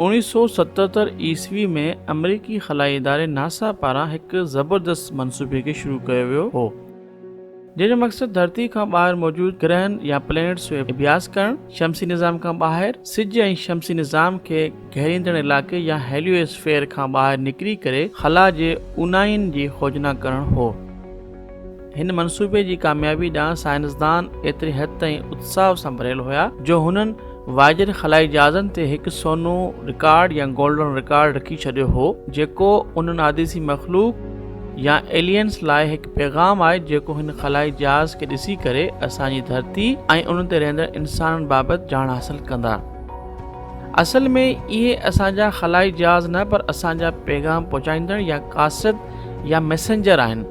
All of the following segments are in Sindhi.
اوڻيھ سؤ ستهتر عيسوي ۾ آمريڪي خلائي اداري ناسا پاران هڪ زبردست منصوبي کي شروع ڪيو ويو هو جنهن جو مقصد ڌرتي کان ٻاهر موجود گرهن يا پلينيٽس جو اڀياس ڪرڻ شمسي نظام کان ٻاهر سج ۽ شمسي نظام کي گهيريندڙ علائقي يا هيليو اسفيئر کان ٻاهر نڪري ڪري خلا جي اوناين جي کوجنا ڪرڻ هو. هن منصوبي جي ڪاميابي ڏانهن سائنسدان ايتري حد تائين اتساهه سان ڀريل هيا جو هنن وائجر خلائي جهازن تي هڪ سونو رڪارڊ يا گولڊن رڪارڊ رکي ڇڏيو هو جيڪو ان ناديسي مخلوق يا ايلينس لاء هڪ پيغام آهي جيڪو هن خلائي جهاز کي ڏسي ڪري اسان جي ڌرتي ۽ ان تي رهندڙ انسانن بابت ڄاڻ حاصل ڪندا اصل ۾ اهي اسان جا خلائي جهاز نه پر اسان جا پيغام پهچائيندڙ يا قاصد يا ميسنجر آهن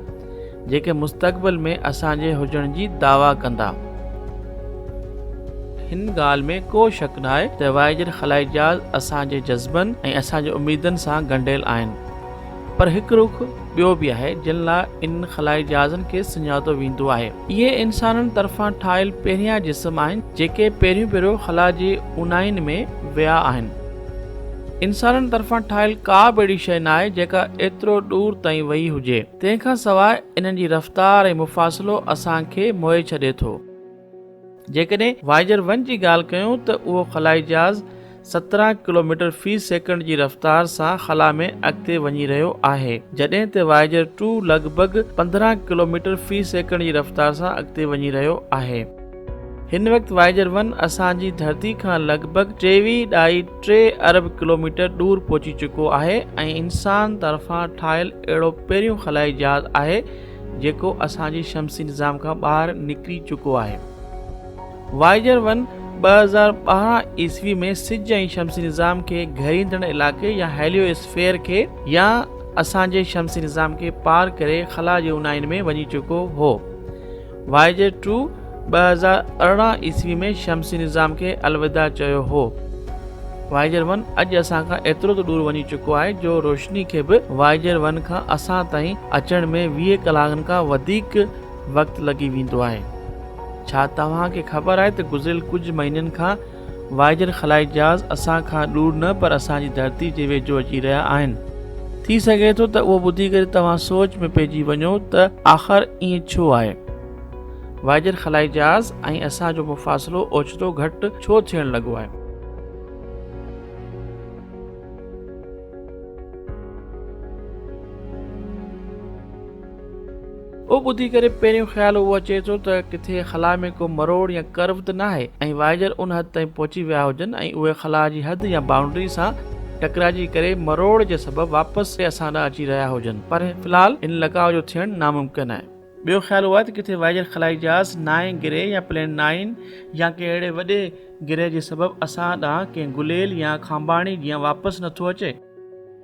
جيڪي مستقبل ۾ اسان جي هجڻ جي دعويٰ ڪندا. هن ڳالهه ۾ ڪو شڪ ناهي ته وائيجر خلائي جهاز اسان جي جذبن ۽ اسان جي اميدن سان ڳنڍيل آهن پر هڪ رخ ٻيو به آهي جنهن لاء انهن خلائي جهازن کي سڃاتو ويندو آهي. اهي انسانن طرفان ٺاهيل پهريان جسم آهن جيڪي پهريون ڀيرو خلا جي اوناهين ۾ ويا آهن. انسانن طرفان ٺاهيل ڪا به اهڙي شيء ناهي جيڪا ايترو ڏور تائين ويئي هجي. تنهن کان سواء انهن جي رفتار ۽ مفاصلو اسان کي موهي ڇڏي ٿو. جيڪڏهن وائيجر ون جي ڳالهه ڪيون ته اهو خلائي جهاز سترهن ڪلوميٽر في سيڪنڊ جي رفتار سان خلا ۾ اڳتي وڃي رهيو آهي جڏهن ته وائيجر ٽو لڳ ڀڳ پندرهن ڪلوميٽر في سيڪنڊ جي رفتار سان اڳتي وڃي رهيو آهي. هن وقت وائيجر ون اسان جي ڌرتي کان لڳ ڀڳ ٽيويهه ڏھائي ٽي ارب ڪلوميٽر ڏور پهچي چڪو آهي ۽ انسان طرفان ٺاهيل اهڙو پهريون خلائي جهاز آهي جيڪو اسان جي شمسي نظام کان ٻاهر نڪري چڪو آهي وائيجر ون ٻه هزار ٻارهن عيسوي ۾ سج ۽ شمسي نظام کي گهريندڙ علائقي يا هيليو اسفيئر کي يا اسان جي شمسي نظام کي پار ڪري خلا جي اونهائين ۾ وڃي چڪو هو واء جي ٽو ٻه هزار ارڙهن عيسوي ۾ شمسي نظام کي الوداع چيو هو. وائيجر ون اڄ اسان کان ايترو ته ڏور وڃي چڪو آهي جو روشني کي به وائيجر ون کان اسان تائين اچڻ ۾ ويهه ڪلاڪن کان وڌيڪ وقت لڳي ويندو آهي. ڇا توهان کي خبر آهي ته گذريل ڪجهه مهينن کان واهجر خلائي جهاز اسان کان ڏور نه پر اسان جي ڌرتي جي ويجهو اچي رهيا آهن. ٿي سگهي ٿو ته اهو ٻڌي ڪري توهان سوچ ۾ پئجي وڃو ته آخر ائين ڇو آهي؟ واهجر خلائي جهاز ۽ اسان جو مفاصلو اوچتو گهٽ ڇو ٿيڻ لڳو آهي؟ اهو ٻڌي ڪري پهريون خيال اهو اچي ٿو ته ڪٿي خلا ۾ ڪو مروڙ يا ڪرو ته ناهي ۽ وائيجر ان حد تائين پهچي ويا هجن ۽ اهي خلا جي حد يا بائونڊري سان ٽڪرائجي ڪري مروڙ جي سبب واپس سي اسان ڏانهن اچي رهيا هجن پر في الحال ان لقاء جو ٿيڻ ناممڪن آهي. ٻيو خيال اهو آهي ته ڪٿي وائيجر خلائي جهاز نائين گرهه يا پلين نائين يا ڪنهن اهڙي وڏي گرهه جي سبب اسان ڏانهن ڪنهن گليل يا کانڀاڻي جيان واپس نٿو اچي.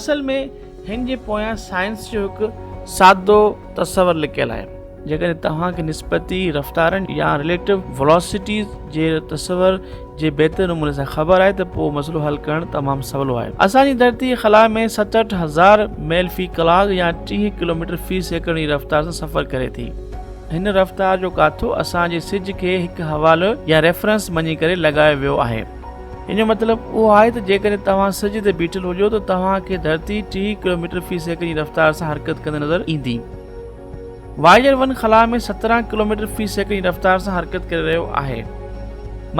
اصل ۾ هن جي پويان سائنس جو هڪ سادو تصور لڪيل آهي. جيڪڏهن توهان کي نسبتي رفتارن يا Relative Velocities جي تصور جي بهتر نموني سان خبر آهي ته پوء مسئلو حل ڪرڻ تمام سولو آهي. اسان جي ڌرتي خلا ۾ ستهٺ هزار ميل في ڪلاڪ يا ٽيهه ڪلوميٽر في سيڪنڊ جي رفتار سان سفر ڪري ٿي. هن رفتار جو ڪاٿو اسان جي سج کي هڪ حوالو يا Reference مڃي ڪري لڳايو ويو آهي. ان جو مطلب اهو آهي ته جيڪڏهن توهان سج تي بيٺل هجو ته توهان کي ڌرتي ٽيهه ڪلوميٽر في سيڪنڊ جي رفتار سان حرڪت ڪندي نظر ايندي. وائيجر ون خلا ۾ سترهن ڪلوميٽر في سيڪنڊ جي رفتار سان حرڪت ڪري رهيو آهي.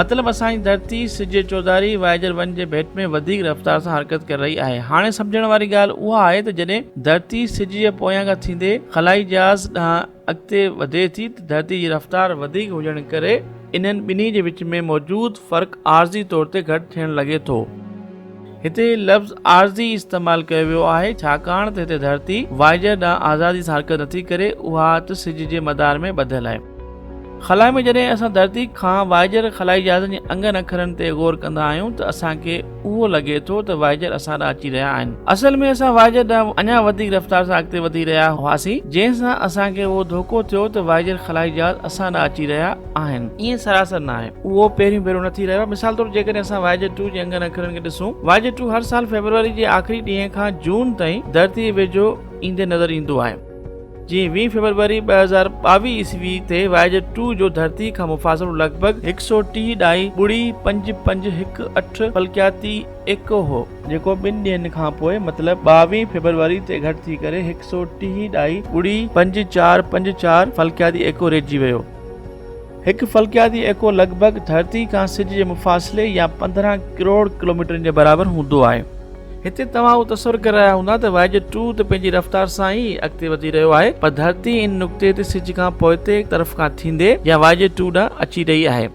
مطلب اسان جي ڌرتي سج جي چوڌاري وائيجر ون جي ڀيٽ ۾ وڌيڪ رفتار سان حرڪت ڪري رهي آهي. هاڻي سمجهڻ واري ڳالهه اها آهي ته جڏهن ڌرتي سج جي پويان کان ٿيندي خلائي جهاز ڏانهن اڳتي وڌي ٿي ته ڌرتي جي رفتار وڌيڪ هجڻ ڪري انهن ٻنهي جي وچ ۾ موجود فرق عارضي طور تي گهٽ ٿيڻ لڳي ٿو. هتي لفظ عارضي استعمال ڪيو ويو آهي ڇاڪاڻ ته هتي ڌرتي وائيجر ڏانهن آزادي سان حرڪت نٿي ڪري اها ته سج جي مدار ۾ ٻڌل آهي. خلا ۾ جڏهن اسان ڌرتي کان وائيجر خلائي جهازن جي انگن اکرن تي غور ڪندا آهيون ته اسان کي اهو لڳي ٿو ته وائيجر اسان ڏانهن اچي رهيا آهن. اصل ۾ اسان وائيجر ڏانهن اڃا وڌيڪ رفتار سان اڳتي وڌي رهيا هئاسين، جنهن سان اسان کي اهو ڌوڪو ٿيو ته وائيجر خلائي جهاز اسان ڏانهن اچي رهيا آهن. ائين سراسر ناهي. اهو پهريون ڀيرو نه ٿي رهيو آهي. مثال طور جيڪڏهن اسان وائيجر ٽو جي انگن اکرن کي ڏسون، وائيجر ٽو هر سال فيبروري جي آخري ڏينهن کان جون تائين ڌرتي جي ويجهو ايندي نظر ايندو آهي. جي ويهه فيبروري ٻه هزار ٻاويهه عيسوي تي وايج ٽو جو ڌرتي کان مفاصلو لڳ ڀڳ هڪ سؤ ٽيهه ڏھائي ٻڙي پنج پنج هڪ اٺ فلڪياتي ايڪو هو، جيڪو ٻن ڏينهن کان پوء مطلب ٻاويهه فيبروري تي گهٽ ٿي ڪري هڪ سؤ ٽيهه ڏھائي ٻڙي پنج چار پنج چار فلڪياتي ايڪو رهجي ويو. هڪ فلڪياتي ايڪو لڳ ڀڳ ڌرتي کان سج جي مفاصلي يا پندرهن ڪروڙ ڪلوميٽرن جي برابر هوندو آهي. هتي توهان اهو تصور ڪري رهيا هوندا ته واء جو ٽو ته پنهنجي رفتار سان ئي اڳتي وڌي رهيو آهي پر ڌرتي ان نقطي تي سج کان پوئتي طرف کان ٿيندي يا واء جو ٽو ڏانهن اچي رهي آهي.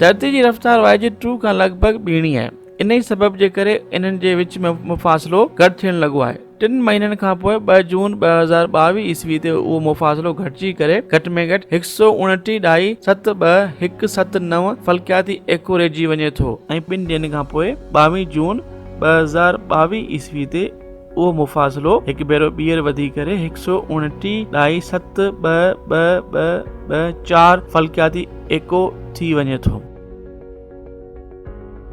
ڌرتي جي رفتار واء جو ٽو کان لڳ ڀڳ ٻيڻي آهي. انهي سبب جي ڪري انهن جي وچ ۾ مفاصلو گهٽ ٿيڻ لڳو آهي. ٽن مهينن کان پوء ٻه جون ٻه هزار ٻاويهه عيسوي تي اهو مفاصلو گهٽجي ڪري گهٽ ۾ گهٽ هڪ سؤ اڻٽيهه ڏھائي ست ٻه هڪ ست نو فلڪياتي ايڪو رهجي وڃي ٿو ۽ ٻن ڏينهن کان پوء ٻاويهه جون ٻه هزار ٻاويهه عيسوي تي اهو مفاصلو هڪ ڀيرو ٻيهر وڌي ڪري هڪ سؤ اڻٽيهه ڏھائي ست ٻه ٻه ٻه ٻه چار فلڪياتي ايڪو ٿي وڃي ٿو.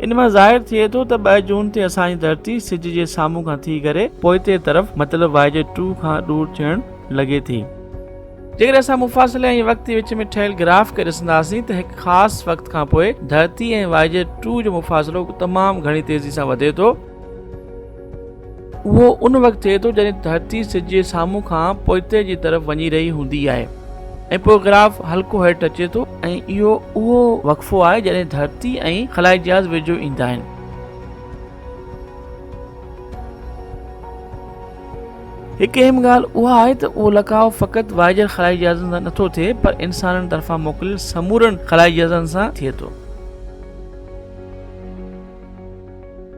ان مان ظاهر ٿئي ٿو ته ٻه جون تي اسان جي ڌرتي سج جي سامهون کان ٿي ڪري پوئتي طرف مطلب واء جي ٽو کان ڏور ٿيڻ لڳي ٿي. جيڪڏهن اسان مفاصلي ۽ وقت جي وچ ۾ ٺهيل گراف کي ڏسنداسين ته هڪ خاص وقت کان پوء ڌرتي ۽ واء جي ٽو جو مفاصلو تمام گهڻي تيزي سان وڌي ٿو، اهو ان وقت ٿئي ٿو جڏهن ڌرتي سج جي سامهون کان پوئتي جي طرف وڃي رهي هوندي آهي ۽ پوء گراف هلڪو هيٺ اچي ٿو ۽ اهو اهو وقفو آهي جڏهن ڌرتي ۽ خلائي جهاز ويجهو ايندا آهن هڪ اهم ڳالهه اها آهي ته اهو لکاء فقط وائجر خلائي جهازن سان نٿو ٿئي پر انسانن طرفان موڪليل سمورن خلائي جهازن سان ٿئي ٿو